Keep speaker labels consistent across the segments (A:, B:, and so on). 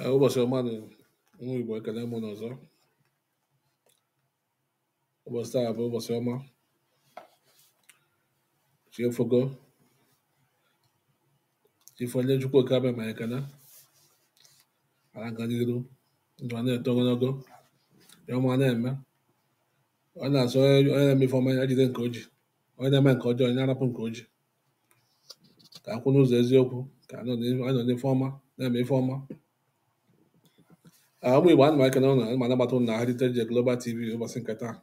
A: Ee, ụbọchị ọma nụ ụmụ Igbo ekene m ụnụ ọzọ ụbọchị taa bụ ụbọchị ọma chi efogo chi fo enye Chukwu oke abịama ekele ala na-aga n'iru ndụ a na-eto ogologo ihe ọma na-eme e wee na-asị onye na-eme ife ọma ya jide nke o ji onye na-eme nke ọjọọ ya rapụ nke o ji ka a kwụ n'ụzọ eziokwu ka a nọ n'ife ọma na-eme ife ọma ah, ụmụ Igbo ana m ekene ụnụ ma anabata ụnụ na Heritage Global TV ụbọchị nke taa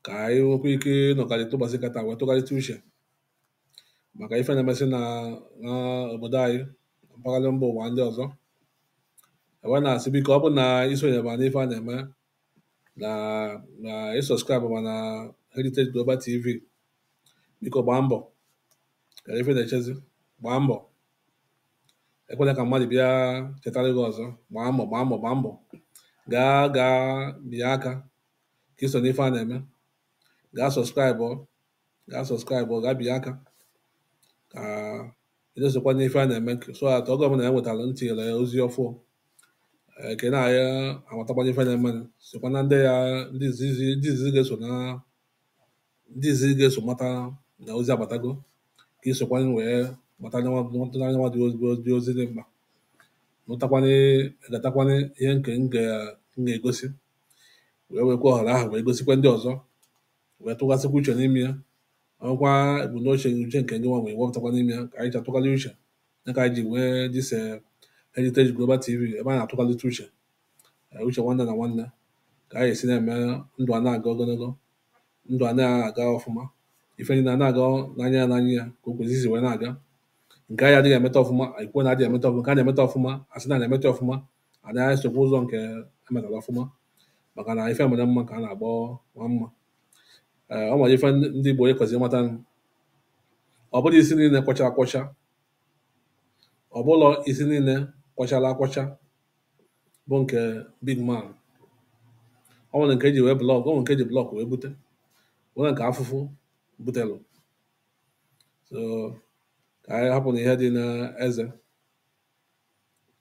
A: ka anyị nwekwa ike ịnọkọrịta ụbọchị nke taa wee tụgharịta uche maka ife na-emesị na obodo anyị na mpaghara mba ụwa ndị ọzọ e wee na-asị biko ọ bụ na isonyeba n'ife a na-eme na na ị subscribe ma na Heritage Global TV biko gbaa mbọ kedụ ife na-echezi gbaa mbọ ekwela ka mmadụ bịa chetara gị ọzọ gbaa mbọ gbaa mbọ gbaa mbọ gaa gaa pịa aka ka i so n'ife a na-eme gaa subscribe gaa subscribe o gaa pịa aka ka ị na-esokwa n'ife a na-eme so that oge ọbụla e wetara tinyere ozi ọfụụ ka ị na-amatakwanye ife na-eme sokwa na ndị ya ndị izizi ga-eso na ndị izizi ga-eso mata na ozi agbatago ka i sokwanye wee mata anyanwa dị ozi dị mkpa nụtakwanye ghọtakwanye ihe nke m ga-egosi wee wekwa ohere ahụ wee gosikwa ndị ọzọ wee tụghasịkwa uche n'ime ya ọkwa ebumnuche uche nke gị nwa wee wepụtakwa n'ime ya ka anyị ji atụgharị uche ya ka anyị ji nwee this eh, Heritage Global TV ebe a na-atụgharịta uche eh, uche nwanne na nwanne ka anyị esi na-eme ndụ a na-aga ogologo ndụ a na-aga ọfụma ife niile na-aga n'anya ya n'anya ya ka o kwesịrị wee na-aga nke anyị adịghị emeta ọfụma anyị kwuo na adịghị emeta ọfụma nke a na-emeta ọfụma a sị na a na-emeta ọfụma anyị esokwa ụzọ nke emetara ọfụma maka na ife mere mma ka a na-agba nwa mma ee ọ nwere ife ndị ndị Igbo anyị kwesịrị ịmata ọ bụlọ isi niile kwọchara akwọcha ọ bụlọ isi niile kwọchara akwọcha bụ nke big man ọ nwere nke eji wee block ọ nwere nke eji block wee bute nwere nke afụfụ butelụ so ka anyị hapụ na ihe dị n'eze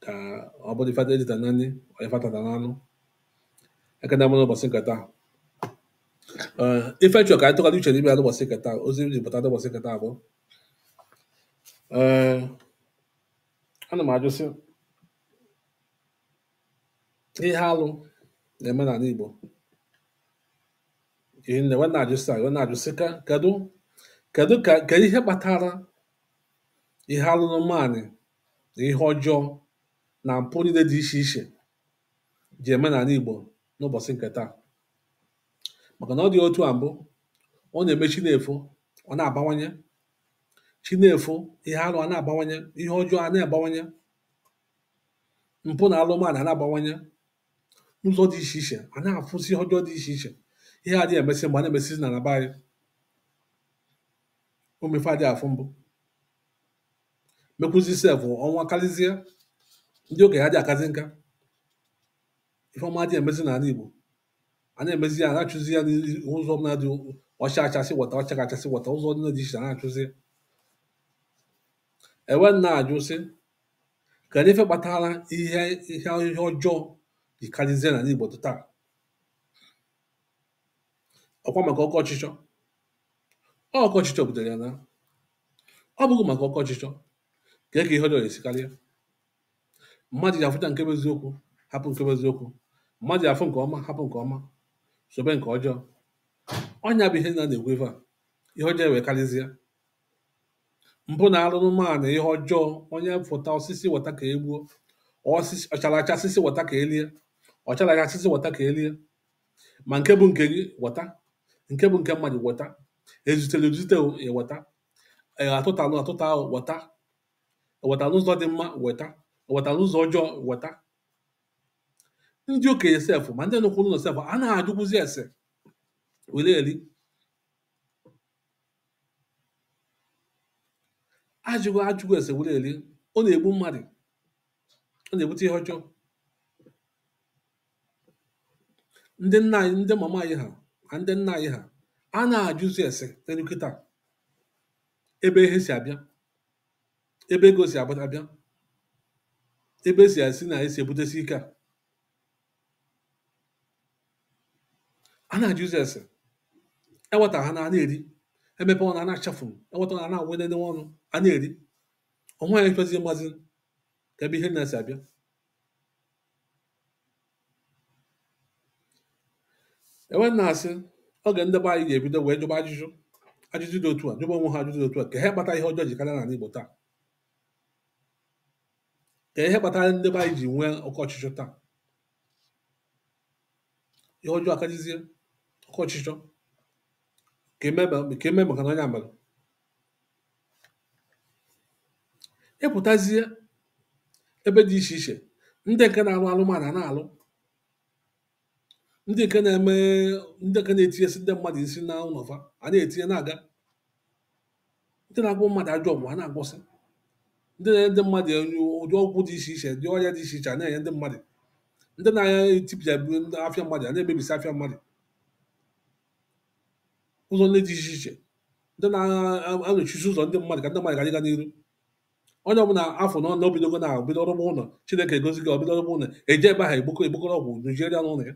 A: ka ọ bụrụ ife erita na nri ọ ife atata na anụ ekene m ụnụ n'ụbọchị nke taa Ee, ife m chọrọ ka anyị tụgharị uche n'ime ya n'ụbọchị nke taa ozi m ji pụta n'ụbọchị nke taa bụ ee ana m ajụsị ihe alụ na-eme n'ala Igbo ihe niile wee na-ajụsị anyị wee na-ajụsị ka kedu kedu ka kedu ihe kpatara ihe alụrụmanị na ihe ọjọọ na mpụ niile dị iche iche ji eme n'ala Igbo n'ụbọchị nke taa maka na ọ dị otu a mbụ ọ na-eme chi na-efo ọ na-abawanye chi na-efo ihe alụ a na-abawanye ihe ọjọọ a na-abawanye mpụ na alụmanị a na-abawanye n'ụzọ dị iche iche a na-afụsị ihe ọjọọ dị iche iche ihe adịghị emesị mbụ a na-emesịzi n'ala be anyị ụmụ ife adịghị afụ mbụ mekwuzi sef ọnwụ akarịzie ndị okenye adịghị akazi nka ife ọma adịghị emezi n'ala Igbo a na-emezi ya na-achụzi ya n'ụzọ ọbụla dị ọ chaa acha sị weta ọ chaghị acha sị weta ụzọ ndị dị iche na-achụzi e wee na-ajụ sị kedu ife kpatara ihe ihe ihe ọjọọ ji karịzie n'ala Igbo taa ọkwa maka oke ọchịchọ oke ọchịchọ butere ya na ọ bụghị maka oke ọchịchọ kee ka ihe ọjọọ ya-esi karịa mmadụ ji afụcha nke bụ eziokwu hapụ nke bụ eziokwu mmadụ ji afụ nke ọma hapụ nke ọma sobe nke ọjọọ ọ ya bụ ihe na na-ekwu ife a ihe ọjọọ wee karịzie mpụ na alụrụmanị ihe ọjọọ onye fụta ọ sị sị weta ka e gbuo ọ chara acha sị sị weta ka e lie ọ chara acha sị sị weta ka e lie ma nke bụ nke gị weta nke bụ nke mmadụ weta ezutere ezute weta atụtalụ atụta weta e weta n'ụzọ dị mma weta e weta n'ụzọ ọjọọ weta ndị okenye sef ma ndị nọkwu n'ụlọ sef anaghị ajụkwụzi ese were eri ajụghị ajụghị ese were eri ọ na-egbu mmadụ ọ na-ebute ihe ọjọọ ndị nna anyị ndị mama anyị ha na ndị nna anyị ha anaghị ajụzi ese n'elu kịta ebe ihe si abịa ebe ego si ab abịa ebe si esi na esi ebutesi ike a anaghị ajụzi ese e weta ha na a na-eri e mepe ọnụ a na-achafu e weta ọnụ a na-awụnene ọnụ a na-eri o nweghị onye chọzi mazi ka ebe ihe na-esi abịa e wee na-asị oge ndị be anyị ga-ebido wee jụba ajụjụ ajụjụ dị otu a jụba onwe ha ajụjụ dị otu a kee ihe kpata ihe ọjọọ ji karịa n'ala Igbo taa kee ihe kpatara ndị be anyị ji nwee oke ọchịchọ taa ihe ọjọọ akajizie oke ọchịchọ ka eme maka na onye ọbụla ị pụtazie ebe dị iche iche ndị nke na-alụ alụmala na-alụ ndị nke na-eme ndị nke na-etinyesi ndị mmadụ nsi na ụlọ fa a na-etinye na-aga ndị na-agwọ mmadụ ajọ ọgwụ a na-agwọsị ndị na-enye ndị mmadụ ụdị ọgwụ dị iche iche ụdị ọrịa dị iche iche a na-enye ndị mmadụ ndị na-etipịa afịa mmadụ a na-emebisi afịa mmadụ ụzọ ndị dị iche iche ndị na-anọchisi ụzọ ndị mmadụ ka ndị mmadụ ghara ịga n'iru onye ọbụla a fụ na ọnụ o bidogo na ahụ bido rụba ụlọ chineke agọzie gị o bido rụba ụlọ e je ebe ahụ ekpoko ekpokọrọ ọgwụ nụjiere ya n'ụlọ ya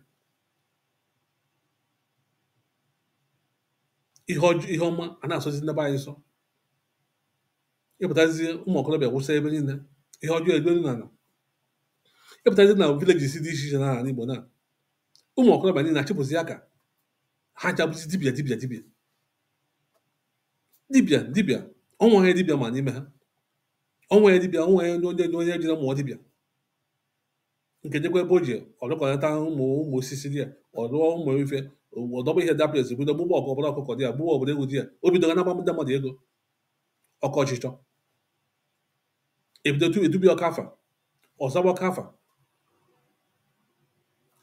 A: ihe ọma a na-asọzi ndị be anyị nsọ ị pụtazie ụmụ okorobịa wụsa ebe niile ihe ọjọọ egbelu na ala ị pụtazie na villages dị iche iche na ala Igbo na ụmụ okorobịa niile achịpụzi aka ha ncha bụzi dibia dibia dibia dibia dibia o nweghị dibia ọma n'ime ha o nweghị dibia o nweghị onye onye onye jere mụọ dibia nke jekwa ebe o ji ọlụkọlata ụmụ ụmụ osisi dị ya ọlụọ ụmụ ife ọ dọba ihe dapụ ezi bido gbuba ọkụ ọ bụrụ ọkụkọ dị ya gbuba ọ bụrụ ewu dị ya o bidoga na-agba ndị mmadụ ego oke ọchịchọ e bido tu etube ya ọka afa ọ zaba ọka afa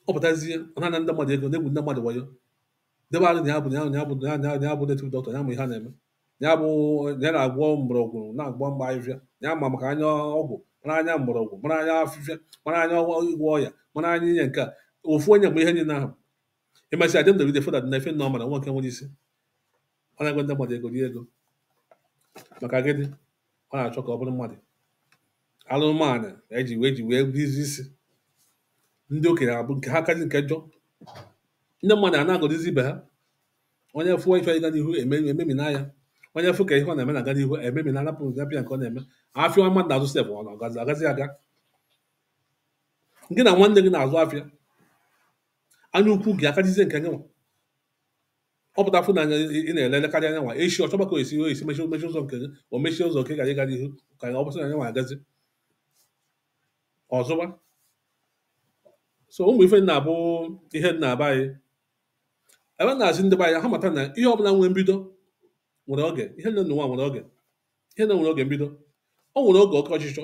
A: ọ pụtazie ọ na-ana ndị mmadụ ego na-egwu ndị mmadụ wayo debe arụ na ya bụ na ya bụ na ya bụ na ya- na ya- na ya bụ native doctor ya ma ihe a na-eme na ya bụ na ya na-agwọ mgbọrọgwụ na-agwọ mkpa ahịhịa na ya ma maka anya ọgwụ mara anya mgbọrọgwụ mara anya afịfịa mara anya ọgwụ ịgwọ ọya mara anya inye nke a ofu onye mgbe ihe niile ahụ emesịa dem dere foda na efe nọmba na nwa nke nwere isi ọ na-agwa ndị mmadụ ego dị ego maka gịnị ọ na-achọ ka ọ bụrụ mmadụ alụmanụ eji wee ji wee rizi isi ndị okenye abụ nke ha kazi nke njọ ndị mmadụ a na-agọdịzi ibe ha onye fụọ ife ịga n'ihu eme- ememina ya onye fụ ka ihe ọ na-eme na-aga n'ihu ememina anapụ ya afịa nke ọ na-eme afịa mmadụ na-azụ sef ọ na-agazi agazi aga gị na nwanne gị na-azụ afịa anya ukwu gị akarịzie nke gị nwa ọ pụta fụ na anyị na-ele elekarịa nya nwa echi ọ chọba ka o esi o esi mechie mechie ụzọ nke gị o mechie ụzọ nke gị ghara ịga n'ihu ka ọ bụzị na nya nwa agazi ọzọba so ụmụ ife ndị a bụ ihe na-aba anyị ebe m na-asị ndị be anyị ha mata na ihe ọbụla nwere mbido nwere oge ihe nine na ụwa nwere oge ihe nine nwere oge mbido o nwere oge oke ọchịchọ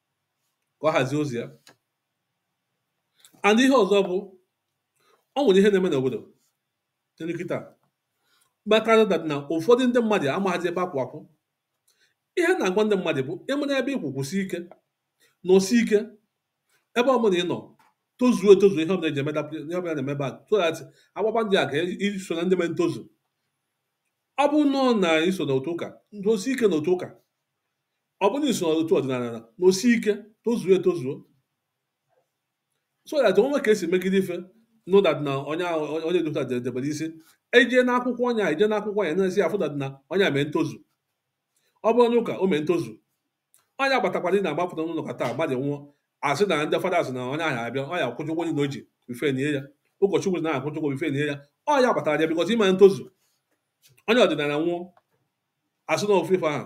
A: ka ọ hazie ozi ya and ihe ọzọ bụ ọ nwere ihe na-eme n'obodo n'elu kịta kpatara that na ụfọdụ ndị mmadụ amaghịzi ebe a kwụ akwụ ihe na-agwa ndị mmadụ bụ ị mara ebe ị kwụ kwụsie ike nọsie ike ebe ọ bụla ị nọ tozuo etozu ihe ọbụla e ji emeda ihe ọbụla a na-eme ebe a so that agbaba ndị a ka i so na ndị mere ntozu ọ bụ nọọ na i so na otu ụka nọsie ike na otu ụka ọ bụrụ na i so n'otu ọdịnala nọsie ike tozuo etozuo so that o nwe ka e si megide ife no that na onye onye dota debere isi eje n'akwụkwọ onye a eje n'akwụkwọ ya na-esi afụ that na onye a mee ntozu ọ bụrụ n'ụka o mee ntozu onye agbatakwara ị na-agbapụta n'ụlọ ụka taa mmadụ nwụọ a sị na ndị fada asị na onye ahụ abịa ọ ya-akwụkwa ụgwọ na o ji before e nie ya ụkọchukwu na-akwụkwa ụgwọ before e nie ya onye agbatakwara ya bikọta ime ntozu onye ọdịnala nwụọ a sị na ofufe ahụ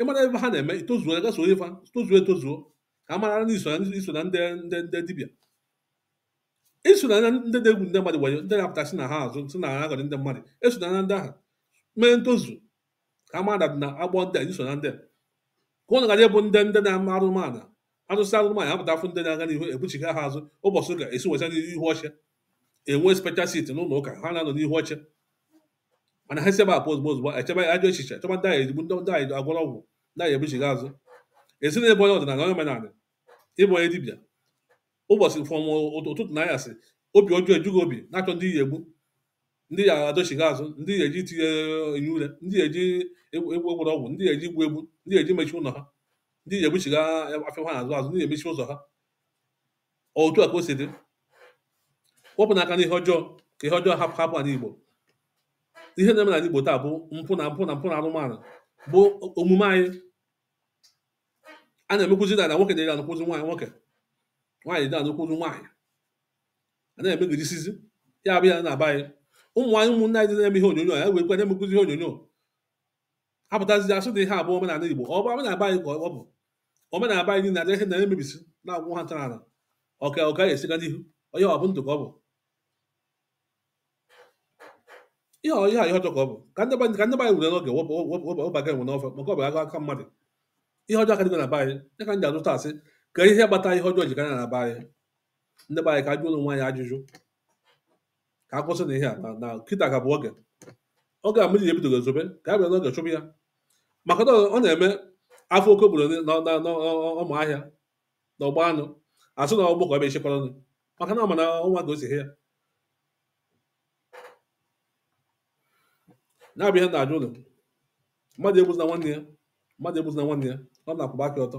A: ị mara ebe ha na-eme itozuo gaa soro fa tozuo etozuo ka a mara na i so na i so na ndị ndị ndị dibịa i so na ndị na-egwu ndị mmadụ wayo ndị na-apụta si na ha azụ si na ha aghọrị ndị mmadụ i so na ndị ahụ mee ntozu ka a mara na agbọ ndị a i so na ndị a. ka ụnụ gara ịbụ ndị ndị na-ama arụmana arụsị arụmana ya pụta afụ ndị na-aga n'ihu ebuchigha ha azụ ụbọchị ụka esi weta n'ihu oche enwe special seat n'ụlọ ụka ha na-anọ n'ihu oche mana ha si ebe apụ ozugbo ozugbo echebe ajọ echiche chọba ndị anyị ezigbo ndị ndị ha ya-agwọrọ ọgwụ ndị ha ya-ebuchigha azụ ị sị na ị bụ onye ọdịnala onye omenala ị bụ onye dibịa ụbọchị from ụtụtụ na anyasị obi ọjọọ eju gị obi na-achọ ndị ị ya-egbu ndị ị ya-adọchigha azụ ndị ị ya-eji tinye enyi ure ndị ị ya-eji egwu egwu agwọrọ ọgwụ ndị ị ya-eji igbu egbu ndị ị ya-eji mechie ụlọ ha ndị ị ya-ebuchigha afịa ha na-azụ azụ ndị ị ya-emechi ụzọ ha otu a ka o si dị wepụnụ aka n'ihe ọjọọ ka ihe ọjọọ hapụ hapụ ala Igbo ihe na-eme n'ala Igbo taa bụ mpụ na mpụ na mpụ na arụmana bụ omume anyị a na-emekwuzi na nwoke na-adị anụkwụzi nwaanyị nwoke nwaanyị adị anụkwụzi nwaanyị a na-emegidesizi ya a bịa na be anyị ụmụ anyị ụmụnne anyị na-eme ihe onyonyo ya wee kwe na-emekwuzi ihe onyonyo apụtazi asị na ihe a bụ omenala Igbo ọ bụ omenala anyị ka ọ bụ omenala anyị niile adịghị na emebisi na-agwụ ha ntara ọka ọ ka ọ ya-esi ga n'ihu onye ọ bụ ndụ ka ọ bụ ihe ihe ihe ọjọọ ka ọ bụ ka ndị ka ndị anyị were n'oge wụbaga enwe n'ọfọ maka ọ bụ agụ aka mmadụ ihe ọjọọ akarịgo na be anyị ya ka m ji apụta asị ka ihe kpata ihe ọjọọ ji ka na be anyị ndị be anyị ka a jụọ onwe anyị ajụjụ ka a kwụsị nụ ihe a na na kịta ka bụ oge oge a mmiri ji ebidogo ezobe ka a bịa n'oge chụpụ ya maka na ọ na-eme a fụ oke obodo n'ọma ahịa na ọgba anụ asụ na ọgbọ ka ọ bịa echekwara nụ maka na ọ ma na ọnwa ka o si hie ya na-abịa ihe na-ajọ njọ mmadụ egbuzina nwanne ya mmadụ egbuzina nwanne ya ọ na-akwụba aka ọtọ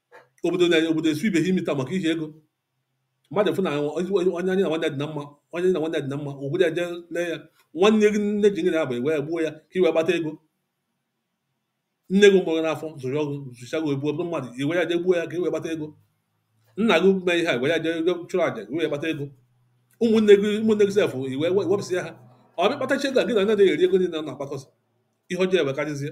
A: obodo na obodo esu ibe ha imi taa maka ihi ego mmadụ fụ na onye ya na nwanne dị na mma onye na nwanne dị na mma obodo eje lee ya nwanne gị nne ji gị na ya wee gbuo ya ka i wee kpata ego nne gị mụrụ n'afọ zụọ gị zụcha gị i buo bụrụ mmadụ i we ya je gbuo ya ka i wee kpata ego nna gị mee ihe a wee ya je chụọ aja wee kpata ego ụmụnne gị ụmụnne gị self i wee wepụsịa ha ị bịa kpatachaa ego a gị na onye na-eri ego niile na-akpakọsị ihe ọjọọ ewee karịzie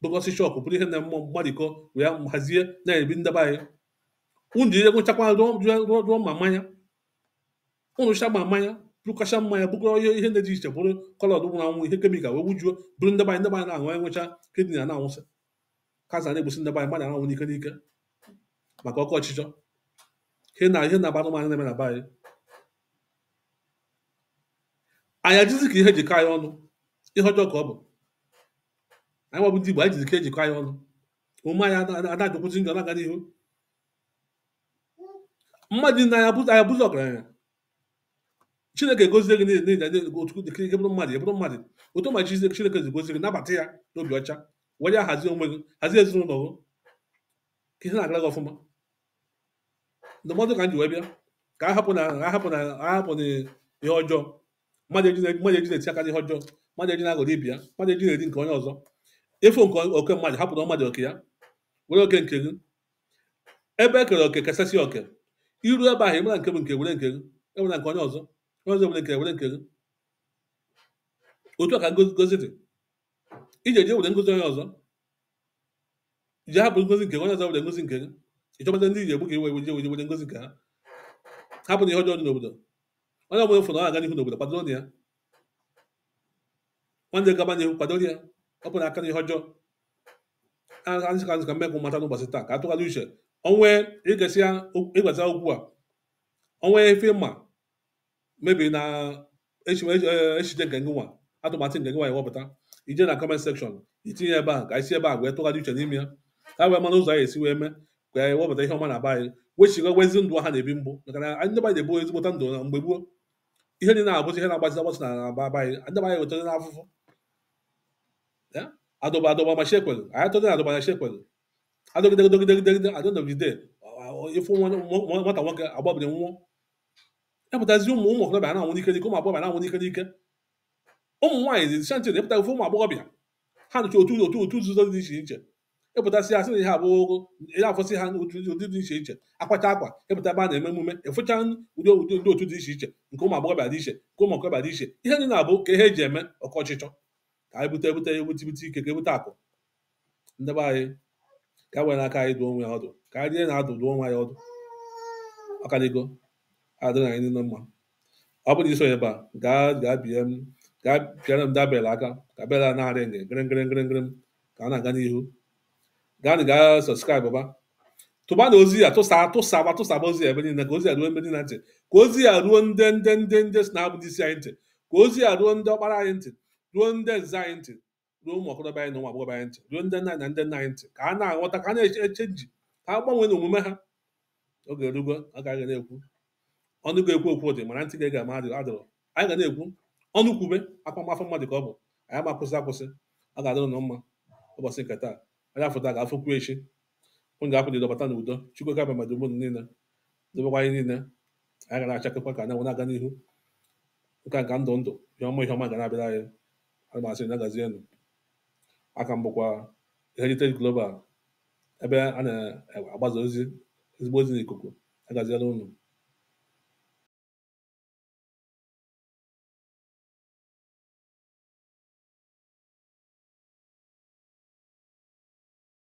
A: bukọsị shop buru ihe na mmụọ mgbarikọ wee hazie na-ebi ndị be anyị unu ji ego nchakwa rụọ ma mmanya unu cha ma mmanya bụrụkacha mmanya bukọrọ ihe ihe dị iche buru colour nwụrụ anwụ ihe chemical wee wujuo buru ndị be anyị ndị be anyị na-aṅụ enwecha kidney na-anwụsị cancer na-egbusi ndị be anyị mmadụ na-anwụ n'ike n'ike maka oke ọchịchọ ihe na ihe na-aba anụmanụ na-eme na be anyị anyị adịzi ka ihe jikọ anyị ọnụ ihe ọjọọ ka ọ bụ anyị nwa bụ ndị Igbo anyị adịzi ka ihe jikọ anyị ọnụ omume anyị ana-ajọkwuzi njọ na-aga n'ihu mmadụ niile anaghị abụzi ọgaranya chineke gozie gị ka ị bụrụ mmadụ ị bụrụ mmadụ otu ma chineke si gozie gị nabata ya n'obi ọcha were ya hazie onwe gị hazie ezinụlọ gị ka ihe na-agara gị ọfụma ndụmọdụ ka m ji wee bịa ka a hapụ nụ ihe ọjọọ mmadụ eji na- mmadụ eji na-eti aka n'ihe ọjọọ mmadụ eji na-aghọrọ ibe ya mmadụ eji na-eri nke onye ọzọ ị fụ oke mmadụ hapụrụ mmadụ oke ya were oke nke gị ebe e kere oke kesasị oke i ru ebe ahụ ị mara nke bụ nke were nke gị i were nke onye ọzọ onye ọzọ were nke were nke gị otu a ka ngozi ngozi dị i je je were ngozi onye ọzọ ji hapụ ngozi nke onye ọzọ were ngozi nke gị ị chọpụta ndị ji egbu ka i wee were ngozi nke ha hapụ nụ ihe ọjọọ dị n'obodo onye ọbụla fụrụ na-aga n'ihu n'obodo kwadoro nụ ya nwanne gaba n'ihu kwadoro ya wepụ aka n'ihe ọjọọ ọ ya ka m sị ka m mee ka unu mata n'ụbọchị taa ka a tụgharị uche o nwe i gesịa okwu a o nwe ife ma maybe na echiche nke gị nwa atụmatụ nke gị nwa ị ya-ewepụta i je na comment section i tinye ebe a ka anyị si ebe a wee tụgharị uche n'ime ya ka wee mara ụzọ anyị esi wee mee ka anyị wepụta ihe ọma na be anyị wechigha wezi ndụ a na-ebi mbụ maka na anyị ndị be anyị na-ebi ezigbote ndụ na mgbe gboo ihe niile na-abụzi ihe na-agbasị agbasị na be anyị ndị anyị wetara n'afụfụ adọba adọba ma shekwelu anyị atọdị na adọba na shekwelu adọgidegidegidegide adọnọgide ị fụ nwata nwoke agbabiri nwụọ epụtazi ụmụ ụmụ okorobịa na-anwụ n'ike n'ike ụmụ agbọghọbịa na-anwụ n'ike n'ike ụmụ nwaanyị dị shanti na epụtazi ụmụ agbọghọbịa ha nọcha otu otu otu nzuzo dị iche iche epụtasị ha sị na ihe abụọ ya afụsịa ụdị ụdị dị iche iche akwacha akwa epụta ebe a na-eme emume afụcha ụdị ụdị ndị otu dị iche iche nke ụmụ agbọghọbịa dị iche nke ụmụ okorobịa dị iche ihe ndị na-abụ ka ihe eji eme oke ọchịchọ ka anyị bute ebute ebute ibute ike ka ebute akụ ndị be anyị ka e were aka anyị dụọ onwe anyị ọdụ ka anyị jee na-adụ dụọ onwe anyị ọdụ ka ala Igbo adịrị anyị niile mma ọ bụrụ na i so ebe a gaa gaa bie m gaa pịara m the bell aka ka bell a na-aring gịrị gịrị gịrị gịrị ka a na-aga n'ihu gaa na gaa subscribe ba tụba na ozi a tụsa tụsa ma tụsaba ozi a ebe niile ka ozi a ruo ebe niile ntị ka ozi a ruo ndị ndị ndị ndị sị na ha bụ ndị isi anyị ntị ka ozi a ruo ndị ọkpara anyị ntị ruo ndị nze anyị ntị ruo ụmụ okorobịa anyị na ụmụ agbọghọbịa anyị ntị ruo ndị nne na ndị nna anyị ntị ka a na-aghọta ka a na-achange ka a gbanwee n'omume ha oge erugo a gaghị na-ekwu ọnụ ga-ekwu okwu dị mana ntị ga-ege ama adịrọ anyị ga na-ekwu ọnụ kwube akpamafọ mmadụ ka ọ bụ anyị ama akwụsị akwụsị ọ ga-adịrị unu mma ụbọchị nke taa anyị afụ taa ga-afụkwu echi unu ga-apụ n'udo bata n'udo chukwu okike abịama dobe unu niile dobekwa anyị niile anyị ga na-achakekwa ka anyanwụ na-aga n'ihu nka nka ndụ ndụ ihe ọma ihe ọma ga na-abịara anyị ana m asị unu ya gazienụ aka m bụkwa Heritage Global ebe a na-agbaza ozi ezigbo ozi n'ikuku ya gazielụ unu